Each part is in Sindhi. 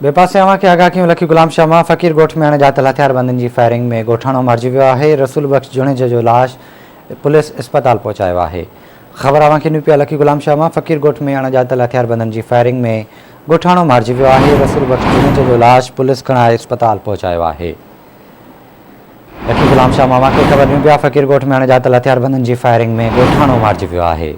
ٻئي پاسي اوهان کي آگاهه ڪيون لکي غلام شاهه مان فقير ڳوٺ ۾ اڻ ڄاتل هٿياربندن جي فائرنگ ۾ ڳوٺاڻو مارجي ويو آهي رسول بخش جوڻيجه جو لاش پوليس اسپتال پهچايو آهي خبر اوهان کي نيون پيا لکي غلام شاهه مان فقير ڳوٺ ۾ اڻ ڄاتل هٿياربندن جي فائرنگ ۾ ڳوٺاڻو مارجي ويو آهي رسول بخش جوڻيجه جو لاش پوليس کڻائي اسپتال پهچايو آهي لکي غلام شاهه مان اوهان کي خبر نيون پيا فقير ڳوٺ ۾ اڻ ڄاتل هٿياربندن جي فائرنگ ۾ ڳوٺاڻو مارجي ويو آهي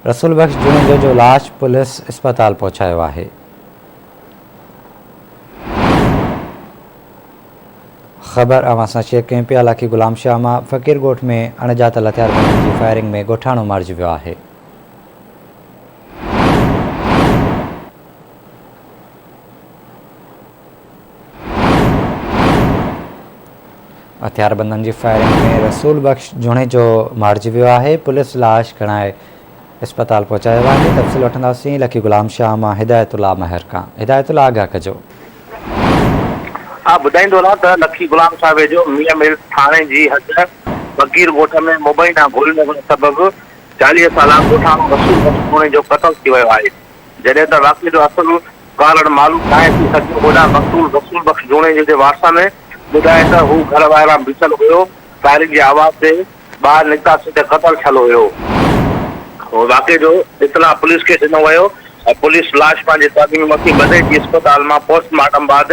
رسول بخش جوڻيجو جو لاش پوليس اسپتال پهچايو آهي. خبر اوهان سان شيئر ڪيون پيا علاقي غلام شاهه مان فقير ڳوٺ ۾ اڻڄاتل هٿياربندن جي فائرنگ ۾ ڳوٺاڻو مارجي ويو آهي هٿياربندن جي فائرنگ ۾ رسول بخش جوڻيجو مارجي ويو آهي پوليس لاش کڻائي اسپتال پهچايو آهي تفصيل وٺنداسين لکي غلام شاهه مان هدايت الله مهر کان هدايت الله آگاهه ڪجو ٻڌائيندو هلان ته لکي غلام شاهه ويجهو ميان ملز ٿاڻي جي حد بگير ڳوٺ ۾ مبينا گولي لڳڻ سبب چاليهه سالا ڳوٺاڻو رسول بخش جوڻيجو قتل ٿي ويو آهي جڏهن ته واقعي جو اصل ڪارڻ معلوم ناهي ٿي سگهيو. هوڏانهن مقتول رسول بخش جوڻيجي جي وارثن ٻڌائي ته هو گهر ٻاهران بيٺل هيو، فائرنگ جي آواز تي ٻاهر نڪتاسين ته قتل ٿيل هيو. واقعي جو اطلاع پوليس کي ڏنو ويو ۽ پوليس لاش پنهنجي تعليمي مٿي ٻڌي جي اسپتال مان پوسٽ مارٽم بعد